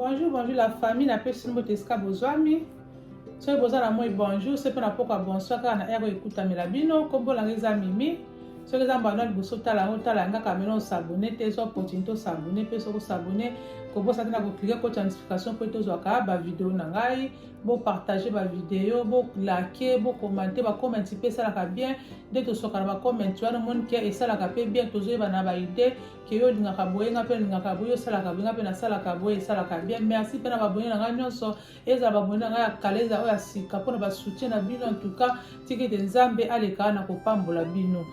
bonjour bonjour la famille napesi mbote esika bozwami soki boza na moi bonjour soki mpe na pokwa bonsoir kaka na ere ekutamela bino kombolanga eza mimi soki eza mbanda liboso tala yango tala yanga kamela osabone te ezwa opportunité osabone mpe soki osabone kobosa te na koklike koti ya notification mpo ete ozwaka bavideo na ngai bopartage bavideo bolake bokomante bakomenti mpe esalaka bien nde tosoka na bakomenti wana omoni ke esalaka mpe bien tozoyeba na baide ke yo olingaka boye nga mpe olingaka boye osalaka boye nga mpe nasalaka boye esalaka bien merci mpe na babone na ngai nyonso ezala bamoni na ngai ya kala ezala oyo ya sika mpo na basoutien na bino antuka tiki ete nzambe aleka na kopambola bino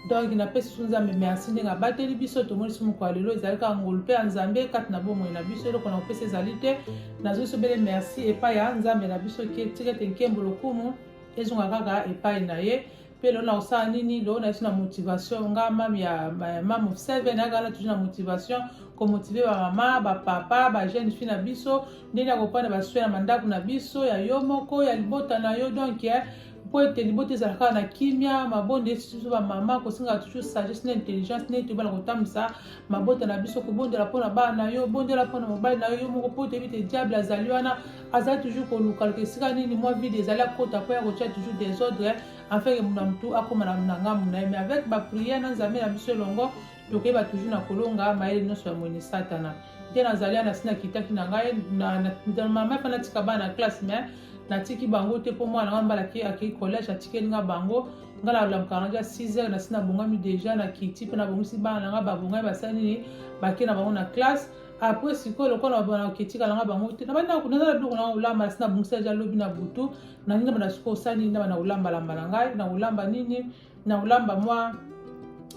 donc napesi so nzambe merci ndenge abateli biso tomoni so mokolo ya lelo ezali kaka ngolu mpe ya nzambe kati na bomoi na biso eloko na kopesa ezali te nazwi so bele merci epai ya nzambe na biso tika ete nkembo lokumu ezonga kaka epai na ye mpe lelo na kosala nini lelo na biso na motivation nga mame ya mame of seven akala toujours na motivation komotive bamama bapapa bajeune fille na biso ndenge ya kopanda baswe na mandako na biso ya yo moko ya libota na yo donc eh, mpo ete libota ezala kaka na kimia mabonda esi biso bamama kosenga toujours sagesse na intelligence neti obala kotambwisa mabota na biso kobondela mpo na bana na yo bondela mpo na mobali na yo yo moko mpo toyebi te diable azali wana aza toujours kolukaluka esika nini mwa vide ezali akota mpo ya kotya toujours desordre afin ke muna motu akóma na ngambo na ye mais avec baprière na nzambe na biso elongo tokeba toujours na kolonga mayele nyonso ya moyini satana te nazali ana si nakitaki na ngai mama efa natika bana na classe mais natiki bango te mpo mwana ngai mbalaki akei collège atikeli ngai bango ngai nalamukaka ngai ja 6 heures nasi nabongami déjà nakiti mpe nabongisi bana na ngai babongami basali nini bake na bango na classe apres sikoyo lokola baketika nanga bango te nabandi naza na biloko nanga kolamba nasi nabongisa deja lobi na butu nalingi nabanda sikoyo osali nini nabanda kolambalamba na ngai na kolamba nini na kolamba mwa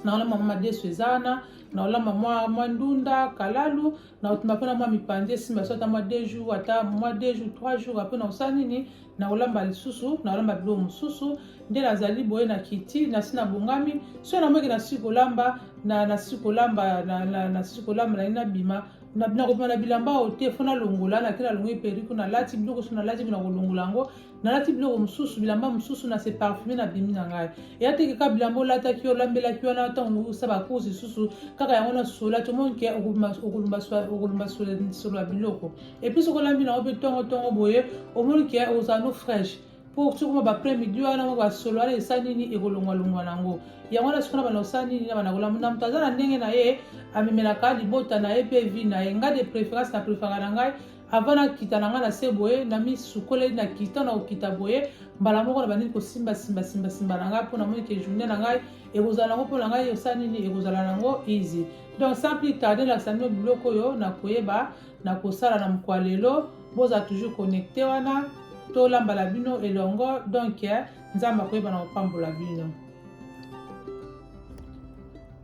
na kolamba mwa madesu eza wana na kolamba mwa mwa ndunda kalalu na kotima mpona mwa mipanzi esimba so ata mwa deux jours ata mwa deux jours trois jours apres na kosala nini nakolamba lisusu nakolamba biloko mosusu nde nazali boye na kiti nasi nabongami soki namoki nasi kolamba nasi kolamba nasi kolamba nali nabima nakobima na bilamba oyo te fo nalongola nake nalongoli periko nalati biloko so nalati bi nakolongola yango nalati biloko mosusu bilamba mosusu na se parfume na bimi na ngai eya teke kaka bilamba olataki olambelaki wana ntango osa bacourse lisusu kaka yango na sola tomoni ke okolumba solo ya biloko Et puis soki olambi nango mpe tongo tongo boye omoni ke ozala no fraîche mpo soki okoma bapres midi wana ngo basolo wana esa nini ekolongwalongwa nango yango wana soki na bana osala nini na bana kolamba na moto aza na ndenge na ye amemelaka libota na ye mpe vi na ye ngai de préférence na préféraka na ngai avant nakita na ngai na se boye na misukoleli na kita na kokita boye mbala moko na bandini kosimba simba simba simba na ngai mpo namoni ke journée na ngai ekozala nango mpo na ngai osala nini ekozala nango easy donc sans plus tarde lakisa bino biloko oyo na koyeba na kosala na mokolo ya lelo bozala toujours connecte wana tolamba na bino elongo donc eh, nzambe akoyeba na kopambola bino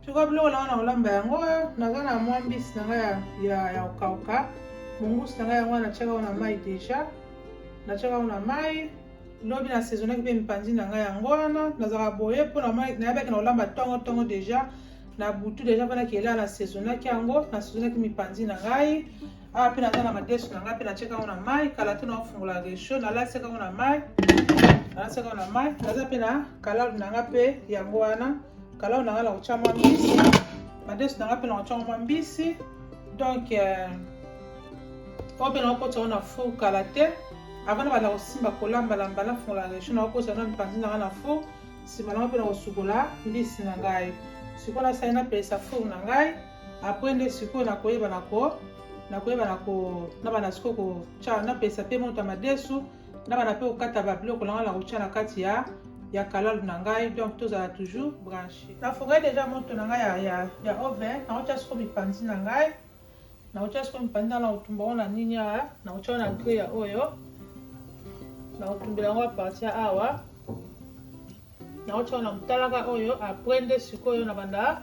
sikoyo biloko nanga na kolamba yango eh, naza na mwa mbisi na ngai ya kokauka mongusi na ngai yango wana natyaka yango na mai deja natyaka yango na mai lobi na saisonaki mpe mipanzi na ngai yango wana nazalaka boye mpo nayebaki na kolamba ntongo ntongo deja na butu deja mpe nakela na saisonaki yango na saisonaki mipanzi na ngai awa mpe naza na madesu na ngai mpe natyeka yango na mai kala te naofungola resho nalaseka yango na mai nalaseka yango na mai naza mpe na kalalu na ngai mpe yango wana kalalu na ngai na kotya mwa mbisi madesu na ngai mpe na kotya yango mwa mbisi donc euh, oyo mpe nakokotisa yango na four kala te avant na banda kosimba kolambalamba nafungola resho nakokotisa yango na mipanzi na ngai na four nsima na mapela kosukola mbisi na ngai sikoyo nasali napelisa four na ngai apres nde sikoyo nakoyeba na ko nakoyeba na ko nabana sikoyo kotya napelisa mpe moto ya madesu nabana mpe kokata babiloko na ngai na kotya na kati ya ya kalalu na ngai donc tozala toujours branche nafongai deja moto na ngai ya, ya, ya oven naotya sikoyo mipanzi na ngai nakotia sikoyo mpanda na kotumba yango na nini awa nakotia na gri ya oyo nakotumbela yango aparti ya awa nakotia na motalaka oyo apres nde sikoyo na banda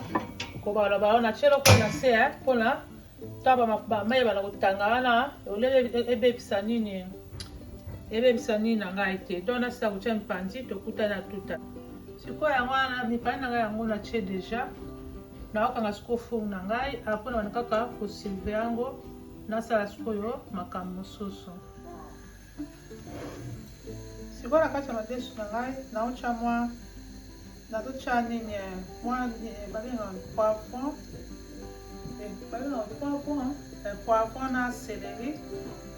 kobalaba yango natie loko na se mpona ntango bamai bana kotanga wana olele ebebisa nini ebebisa nini na ngai te donc nasila kotia mipanzi tokuta na tuta sikoyo yango wana mipani na ngai yango natie deja nakokanga sikoyo four na ngai apres na banda kaka kosilve yango nasala sikoyo makambo mosusu sikoyo na kati ya madesu na ngai naotya mwa nazotya nini eh, mwa eh, babengaka poivron eh, babengaka poivron poivron na celeri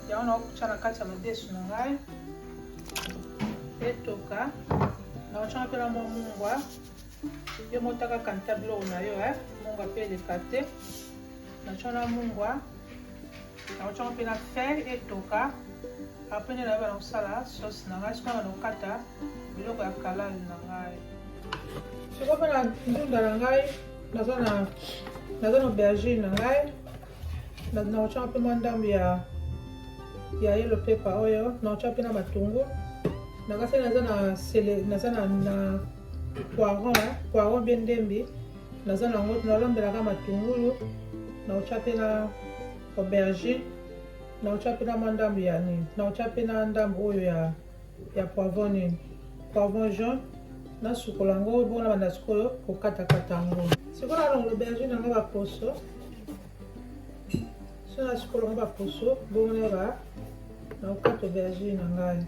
yango nakotya na kati ya madesu na ngai etoka nakotya mpe na mwa mungwa yo motaka kanta biloko na yo eh? mungwa mpe eleka te natya na mungwa nakotyaka mpe na fere etoka apres nde nayeba na kosala sauce na ngai sikoyo na kokata biloko ya kalal na ngai sikoyo mpe na ndunda na ngai naza na aubergine na ngai nakotyaka mpe mwa ndambo ya ya yelo pepa oyo nakotya mpe na matungu nakasi naza na sele naza na na poiron poiron mpe ndembi naza na yango nalambelaka matungulu nakotya mpe na aubergine nakotya mpe na mwa ndambo ya nini nakotya mpe na ndambo oyo ya ya poivron nini poivron jaune nasukola yango bongo nabanda sikoyo kokatakata yango sikoyo nalongola aubergine yango baposo so nasukola yango baposo bongo naba nakokata aubergine na ngai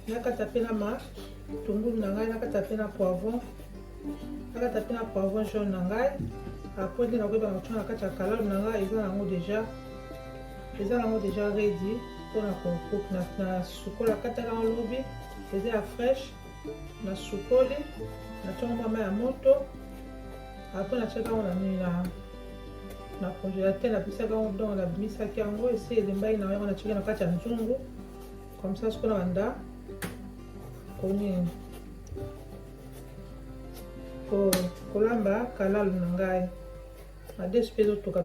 nakata mpe na matungulu na ngai nakata mpe na poivron nakata mpe na poivron jaune na ngai apres nde nakoyeba nakotya na kati ya kalame na ngai eza nango deja eza nango deja redi mpona kokok na sukola kataka na lobi eza ya fresh na sukoli natyaka mwa mai ya moto apres natyaka yango na nini na na congélateur napisaka yango donc nabimisaki yango esi elembaki na yango natyaki na kati ya nzungu comme ça sikoyo na banda konini kolamba kalalu na ngai na desi mpe ezotoka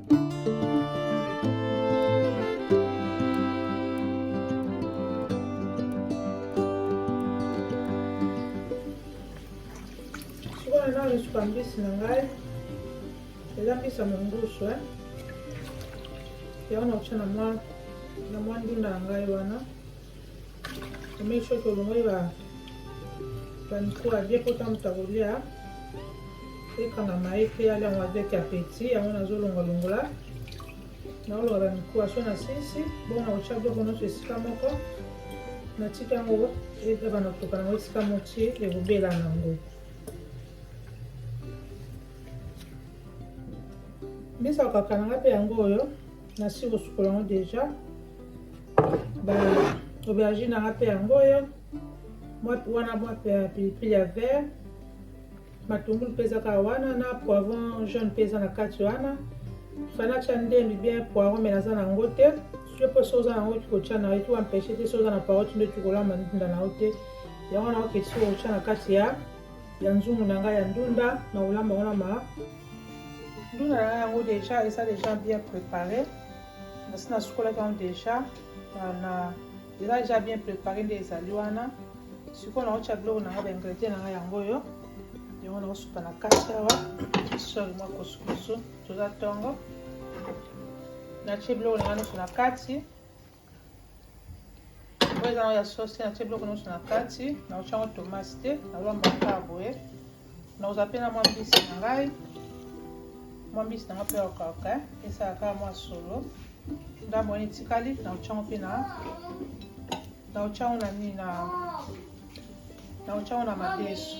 nasuka mbisi na ngai eza mbisi ya mongusu eh. yango nakotia na mwa ndunda na ngai wana Omei soki olongoli ba banikula bie mpo ntango moto akolia ekangama ye te alia yango avec apeti yango nazolongolongola naolonga bamikuwa so na sisi bongo na kotya biloko nyonso esika moko natika yango ebana kotoka nango esika motie ekobela nango mbisa kokaka nanga mpe yango oyo nasi kosukola yango deja ba aubergine nanga mpe yango oyo wana mwa pilipili ya vert matungulu mpe eza kaka wana na poivron jaune mpe eza na kati wana fanacha ndembi bien poivron me naza na yango te soki mpo so oza na yango kikotya na yo ti wampeshe te so oza na paroti nde tikolamba ndinda na yo te yango na oketi soko otya na kati ya ya nzungu na ngai ya ndunda na kolamba yango na ma ndunda na ngai yango deja eza deja bien prépare nasi nasukolaki yango deja na eza deja bien prépare nde ezali wana sikoyo naotya biloko na ngai baingredient na ngai yango oyo yango nakosuka na kati awa soli mwa kosukusu toza ntongo natye biloko na ngai nyonso na kati oyo eza na ya sauce te natie biloko nyonso na kati naotya yango tomate te nalamba kaka boye naoza mpe na mwa mbisi na ngai mwa mbisi na ngai mpe okauka esala kaka mwa solo ndambo wana etikali naotya yango mpe na naotya yango na nini na naotya yango na madesu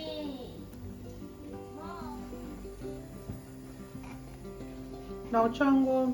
naotya yango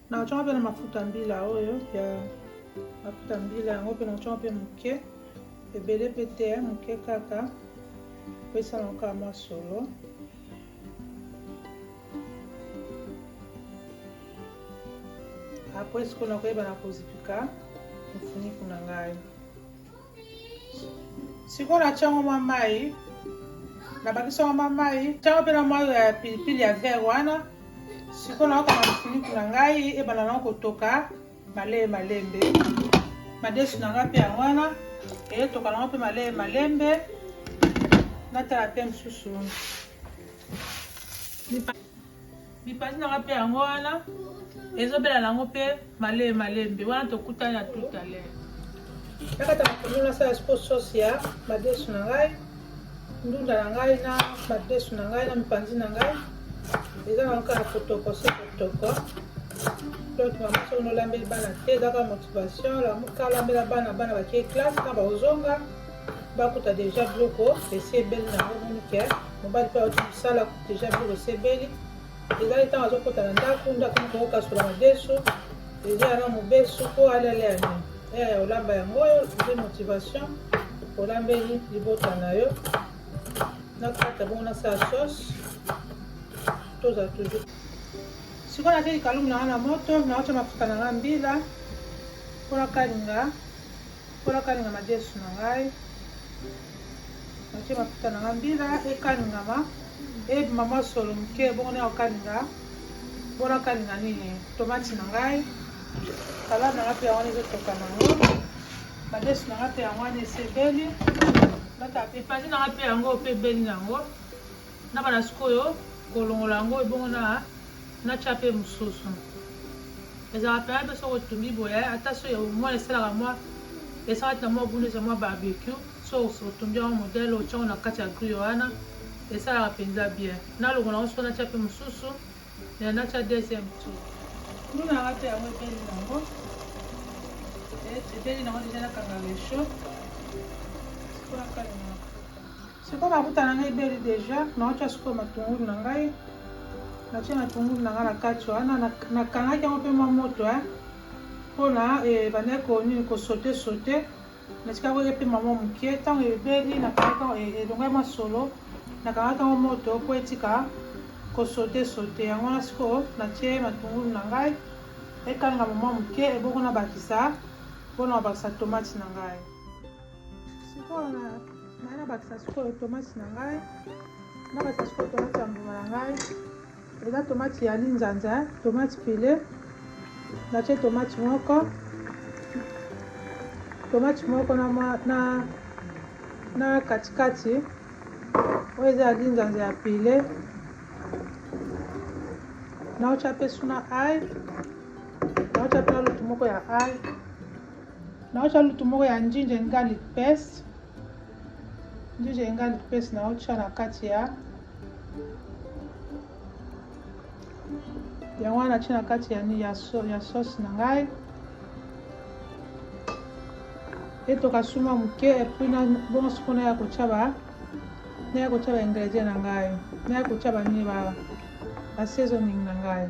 nakotyaka mpe na mafuta mbila oyo ya mafuta mbila yango mpe nakotyaka mpe moke ebele mpe te moke kaka mpo esalaka mwa solo apres sikoyo nakoyeba na kozipika mofuniku na ngai sikoyo natya yango mwa mai nabakisi yango mwa mai ntango mpe na mwa ya pilipili ya vere wana sikoyo naokanga mifiniku na ngai ebanda nango kotoka malee malembe madesu na ngai mpe yango wana eyetoka nango mpe malee malembe natala mpe mosusu Mipanzi na nga pe yango wana ezobela nango pe malee malembe wana tokutani na tout à l'heure nakata mapondu nasala siko sauce ya madesu na ngai ndunda na ngai na madesu na ngai na mipanzi na ngai eza nango kaka kotoko se kotoko donc mama soki nolambeli bana te eza kaka motivation lamuka lambela bana bana bakei classe na baozonga bakuta deja biloko esi ebeli nango monike mobali mpe auti mosala deja biloko esebeli ezali ntango azokota na ndako ndako moko okokasola madesu eza yana mobesu mpo alele yango eya ya olamba yango oyo nde motivation olambeli libota na yo nakata bongo nasala sauce toza toujours sikoyo natye likalumu na nga na moto naotya mafuta na nga mbila mpo nakalinga Mpo nakalinga madesu na ngai, natie mafuta na ngai mbila ekalingama ebima mwa solo moke, bongo naya kokalinga mpo nakalinga nini tomati na ngai salade na ngai mpe yango wana ezotoka na yango madesu na ngai mpe yango wana esebeli epandi na ngai mpe yango mpe ebeli na yango na bana sikoyo kolongola yango ebongo na na tya mpe mosusu ezalaka mpena mpe soko otumbi boye ata so mwa esalaka mwa esalaka na mwa buni eza mwa barbecue so otumbi yango modele otyango na kati ya grio wana esalaka mpenza bien nalongola yango soko natya mpe mosusu na natya deuxième tour nduna yanga mpe yango ebeli nango ebeli nango deja nakanga resho sikonakalaa Sikoyo nakutana na ebeli deja, naotya sikoyo matungulu na ngai, natye matungulu na ngai na kati wana, nakangaki yango mpe mwa moto eh. mpona ebandaki eh, konini kosote sote, natikako ye mpe mama moke, ntango ebeli nakangaki eh, elongaki masolo, nakangaki yango moto mpo etika kosote sote, yango wana sikoyo natye matungulu na ngai ekanga mama moke, ebongo nabakisa mpona babakisa tomati na ngai. sikoyo na ngai nabakisa sikoyo tomate na ngai nabakisa sikoyo tomate ya mbuma na ngai eza tomate ya linzanza tomate pile natie tomate moko tomate moko na, na, na katikati oyo eza ya linzanza ya pile naotya mpe suna ai naotya mpe lutu moko ya ai naotya lutu moko ya njinja and garlic paste njinja and garlic paste naotya na kati ya yango wana natya na kati ya, ya, so, ya sauce na ngai etoka suma moke epui bongo siko naya kotya ba naya kotya ba ingredient na ngai naya kotya banini ba, ba seasoning na ngai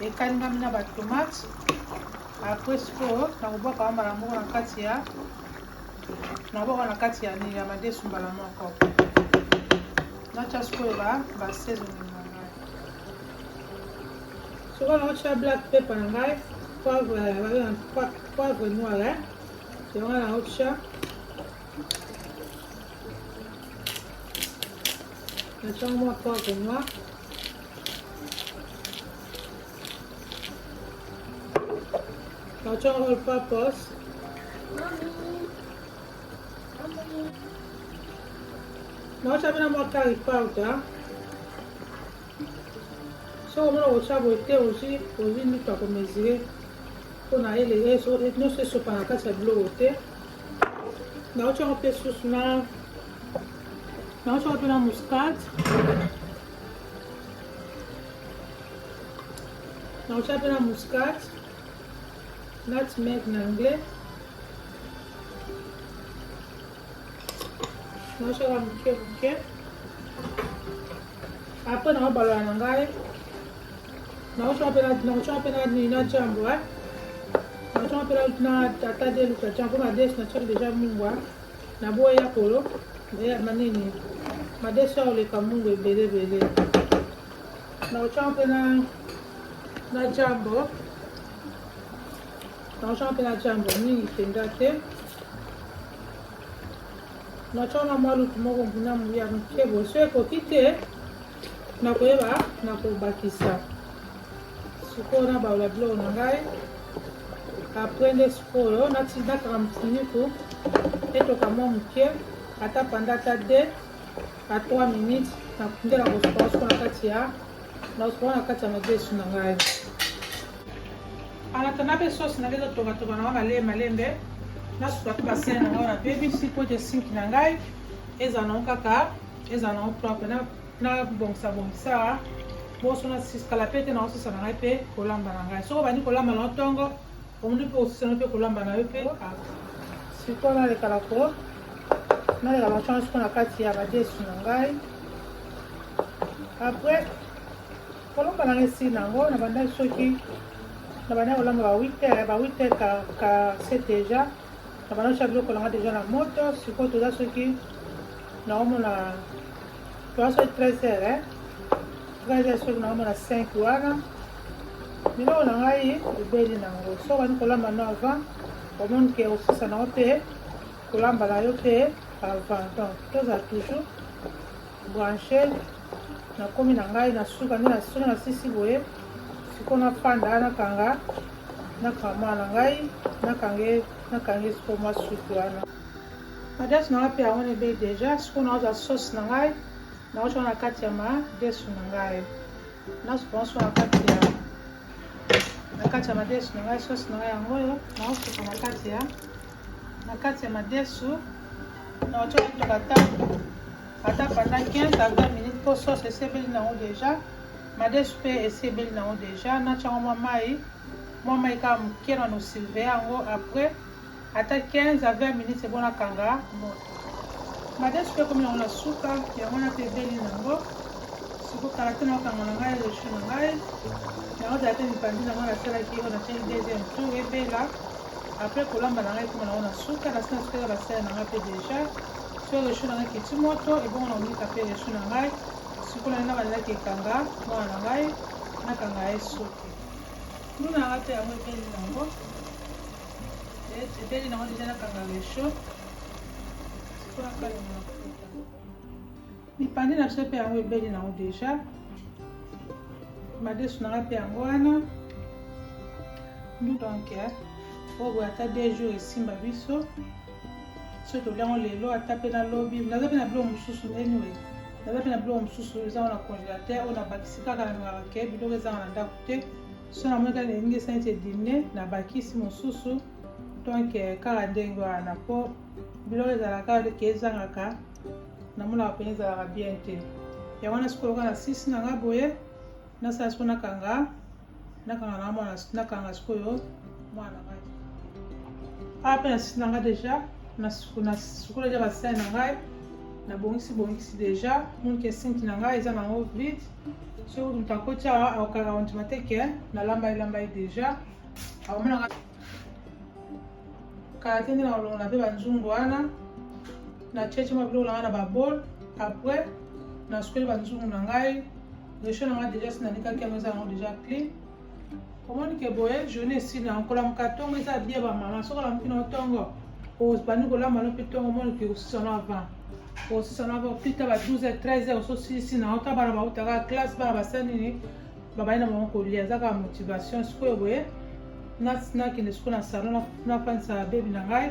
ekalingami na batomate apres sikoyo nakobwaka yango mbala moko na kati ya nabwaka na kati ya nini ya madesu mbala moko natya sikoyo basaisoni na ngai soko naotya black pepe na ngai poivre eh, noir eh. yango naotya natya mwa poivre noir Patron all purpose. Naosha bena mwa curry powder. Soki omona kotya boye te ozwi ozwi ndika komesure mpo na ele nyonso esopa na kati ya biloko te. Naotyaka mpe susu na naotyaka mpe na muscade. na otya mpe na muscat nutmeg na anglais na otyaka moke moke apres na obalola na ngai na otyaka mpe na otyaka mpe na nini na jambo na otyaka mpe na tata de luka jambo na des na tyaki deja mungwa Na boyi ya kolo ya manini madesu ya oleka mungu ebele ebele na otya mpe na na jambo na otya mpe na jambo mingi mpenza te natyanga mwa lutu moko mpuna ya moke boso ekoki te nakoyeba nakobakisa Sikoyo na baola biloko na ngai apres nde sikoyo natindakaka mfiniku etoka mwa moke ata panda ata de a 3 minutes nakundela kosuka osuka na kati ya naosuka na kati ya madesu na ngai anatanda mpe sosi na ngai ezotokatoka na ngai malembe malembe nasuka mpe basene na ngai wana mpe bisi mpo te sinki na ngai ezala nango kaka ezala nango propre nabongisa bongisa boso nasikala mpe te nakosusa na ngai mpe kolamba na ngai soki obandi kolamba na yo ntongo omoni mpe osusana mpe kolamba na yo mpe siko nalekala ko naleka macana siko na kati ya badesu na ngai apres kolamba na ngai esili na yango nabandaki soki nabandaki kolamba ba 8 heure ba 8 heure ka, ka se deja na bana sha biloko na nga deja na moto sikoyo toza soki naomona toza soki 13 heure eh? gaza soki naomona 5 wana biloko na ngai ebeli nango soki bani kolamba no avant omoni ke osisa nango mpe kolamba na yo mpe avant donc tozala toujours branche nakomi na ngai na suka nde na songi na sisi boye siko nafanda nakanga nakanga mwana na ngai nakange nakange siko mwa suki wana adresse na ngai mpe yango nebe deja siko naozwa sauce na ngai naotya na kati ya madesu na ngai nasupanso na kati ya na kati ya madesu na ngai sauce na ngai yango oyo naosuka na kati ya na kati ya madesu na otyo kutoka ata ata panda 15 a 20 minutes mpo sauce esebeli nango deja madesu mpe esebeli nango deja natyango mwa mai mwa mai kaka moke na nosilve yango après ata 15 a 20 minutes ebonakanga moto Madame soki ekomi yango na suka yango wana mpe ebeli nango siko kala te naokanga na ngai rechu na ngai yango zala te mipandi nango nasalaki oyo natyaki deuxième tour ebela apres kolamba na ngai ekoma nango na suka nasi na sukaka basala na ngai mpe deja so rechu na ngai kiti moto ebongo na omika mpe rechu na ngai siko na ngai nabandelaki ekanga mwana na ngai nakanga ye soki nduna ngai mpe yango ebeli nango ebeli nango deja nakanga resho sikoyo nakalanga mafuta mipande na biso mpe yango ebeli nango deja madesu nanga mpe yango wana donc eh, oyo boye ata deux jours esimba biso soki toliango lelo ata mpe na lobi naza mpe na biloko mosusu anyway naza mpe na biloko mosusu ezanga na congélateur oyo nabakisi kaka na ngaka ke biloko ezanga na ndako te so namoni kaka elingi esa neti edimne na bakisi mosusu donc eh, kaka ndenge wana mpo biloko ezalaka leke ezangaka namonaka mpenza ezalaka bien te yango wana sikoyo kaka na sisi na nga boye nasala sikoyo nakanga nakanga na mwana nakanga sikoyo mwana ngai awa mpe na sisi na nga deja nasukula deja basali na ngai nabongisi bongisi deja monke sinki na ngai eza nango vide soki moto akoti awa akokaka ondima te ke nalamba elamba ye deja akomonaka kala te nde na kolongola mpe banzungu wana na cheche mwa biloko na ngai na babol après nasukeli banzungu na ngai resho na ngai deja sinalikaki yango eza yango deja clean omoni ke boye journée esila kolamuka ntongo eza bie bamama soki olamuki na ntongo obandi kolamba no mpe ntongo omoni ke osisana avant osisana avant pita ba 12 heures 13 heures ososilisi na ota bana bautaka classe bana basali nini babandi na bango kolia eza kaka motivation sikoyo boye nakende sikoyo na salon nafandisa babebi na ngai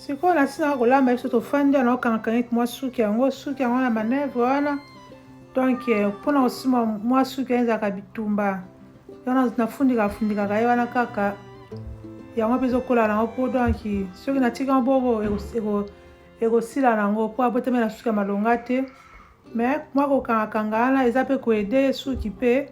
sikoyo nasilaka kolamba biso tofandi wana okangaka neti mwa suki yango suki yango na manevre wana donk eh, mpona kosima mwa suki wana ezalaka bitumba wana nafundika afundikaka ye wana kaka yango mpe ezokola nango mpo donk soki natika yango boko ekosila nango mpo abotamela suki ya malonga te mais mwa kokangakanga wana eza mpe koede ye suki mpe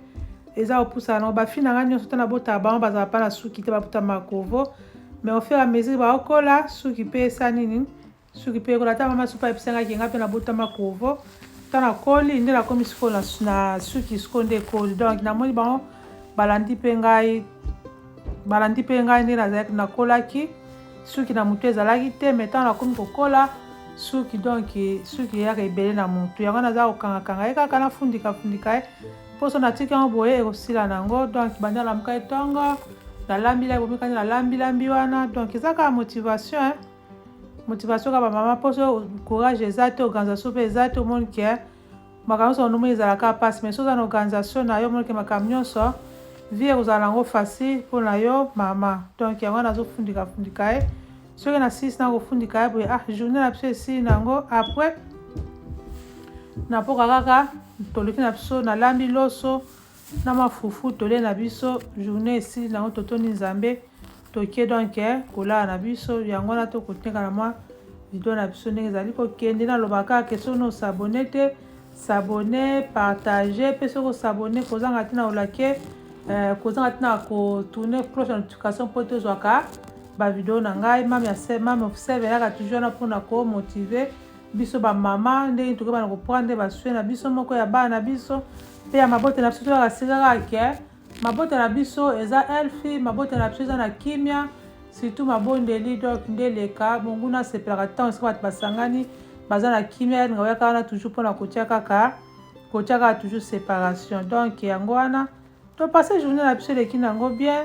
eza kopusa nango bafi na ngai nyonso te nabotaka bango bazala mpa na suki te baputa makovo mais ofere ya mesure baokola suki mpe esa nini suki mpe ekola ata mama supa ayebisa ngai kenga mpe nabota makovo nta nakoli nde nakomi sikoyo na suki sikoyo nde ekoli donc namoni bango balandi mpe ngai balandi mpe ngai nde nazalaki nakolaki suki na motu ezalaki te mai ntango nakomi kokola suki donk suki eyaka ebele na motu yango naza kokangakanga ye kaka nafundikafundika ye mposo natiki yango boye ekosila na yango donk banda alamuka ye ntongo nalambi la bomikani nalambi lambi wana donc eza kaka motivation hein? motivation kaka bamama mposo courage eza te organisation mpe eza te omoni ke makambo nyonso onomi ezala kaka mpasi mais soki oza na organisation na yo omonike makambo nyonso vie ekozala yango facile mpo na yo mama donc yango wana azofundika fundika ye soki na sisi na kofundika ye boye ah journée na biso esili na yango après napoka kaka toleki na biso nalambi loso na mafufu tole na biso journée esili nango totondi nzambe tokie donc eh, kolala na biso yango wana tokotenga na mwa video na biso ndenge ezali kokende naloba kaka ke soki nosabone te sabone partage mpe soki osabone kozanga ntina olake eh, kozanga ntina kotourne cloche ya notification mpo tozwaka bavideo na ngai mame ya mame of seve eyaka toujours wana mpona komotive biso bamama ndenge tokobana koprendre baswe na biso moko ya bana na biso Mpe ya mabota na biso tolaka sikaka ke mabota na biso eza elfi, mabota na biso eza na kimia, surtout mabondeli donc nde leka monguna asepelaka ntango esika bato basangani baza na kimia, yalinga oyaka wana toujours mpo na kotia kaka kotia kaka toujours separation donc yango wana topase journée na biso eleki na yango bien.